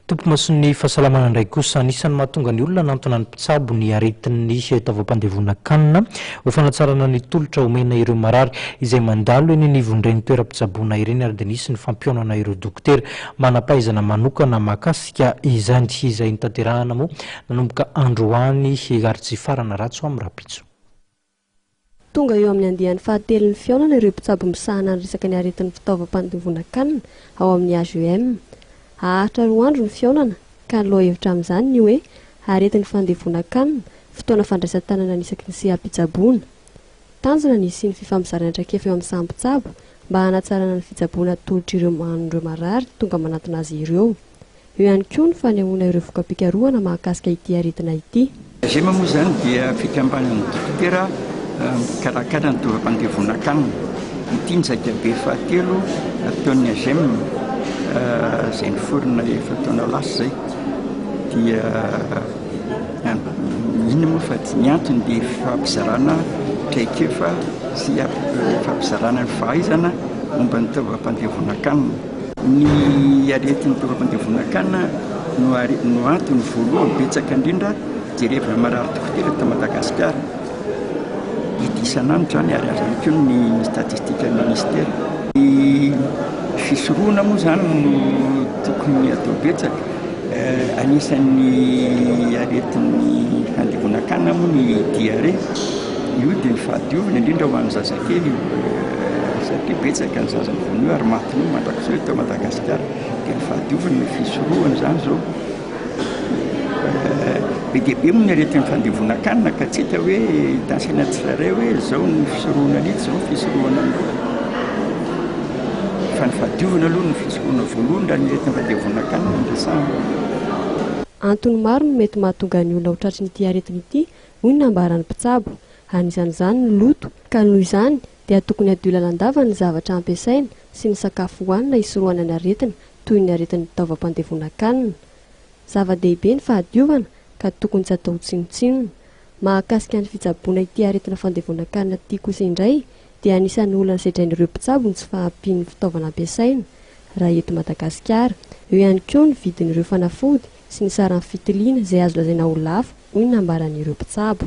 Tompimason'ny fahasalamana indray kosa. Anisan'ny mahatonga ny olona hanantona ny mpitsabo ny aretin'ny taovam-pandevonan-kanina ho fanatsarana ny tolotra omena ireo marary izay mandalo eny anivon'ireny toeram-pitsaboana ireny ary dia nisy ny fampihaonana ireo dokotera manam-pahaizana manokana mahakasika izany izay notanterahana moa nanomboka androany ary tsy hifarana raha tsy ho amin'ny rahampitso. Tonga eo amin'ny andiany fahatelon'ny fihaonana ireo mpitsabo misahana ny resaka ny aretin'ny fitaovam-pandovonan-kanina ao amin'ny HEM. Haharitra roa andro ny fihaonana ka ny lohahevitra amin'izany ny hoe Aretin'ny fandevonan-kanina, fotoana fandraisan-tanana ny isaky ny seha-pitsaboana. Tanjona ny hisian'ny fifamizarana traikefa eo amin'ny samy mpitsabo mba hanatsarana ny fitsaboana atolotr'ireo an'ireo marary tonga manatona azy ireo. Eo ihany koa ny fanehoana ireo voka-pikarohana mahakasika ity aretina ity. Gema moa izany dia fikambanan'ny dokotera mpikarakara ny tovam-pandevonan-kanina. Ity ny zaikabe fahatelo ataon'ny AGEM izay niforona efatra taona lasa izay. Dia mino moa fa ny antony dia fampizarana traikefa sy fampizarana ny fahaizana momba ny tovam-pandevonan-kanina. Ny aretin'ny toeram-pandevonan-kanina no antony voalohany betsaka indrindra jerevana marary dokotera eto Madagasikara. Hita isan'andro izany ary azo ihany koa ny statistikan'ny minisitera. Ny fisorohana moa izany no tokony atao betsaka. Anisan'ny aretin'ny fandevonan-kanina moa ny diarrhée. Io dia ny fahadiovana indrindra ho an'ny zazakely io satria betsaka ny zaza vonoy ary matin'io mandrakizao eto Madagasikara dia ny fahadiovana no fisorohana izany izao be dia be moa ny aretin'ny fandevonan-kanina ka tsy hita hoe hitansaina tsirairay hoe izao ny fisorohana an'ity izao ny fisorohana an'ity fa ny fahadiovana aloha no fisorohana voalohany raha ny aretin'ny fandevonan-kanina no resahana. Antony maro no mety mahatonga ny olona ho tratry ity aretina ity hoy ny nambaran'ny mpitsabo. Anisan'izany ny loto, ka noho izany dia tokony hadio lalandava ny zavatra ampiasaina sy ny sakafo hohanina hisorohana ny aretina toy ny aretin'ny taovam-pandevonan-kanina. Zava-dehibe ny fahadiovana ka tokony tsy atao tsinontsinona. Mahakasika ny fitsaboana ity aretina fandevonan-kanina ity kosa indray dia anisan'ny olana sedrain'ireo mpitsabo ny tsy fahampian'ny fitaovana ampiasaina raha eto Madagasikara. Eo ihany koa ny vidin'ireo fanafody. sy ny saran'ny fitiliana izay azo lazaina ho lafo, hoy ny nambaran'ireo mpitsabo.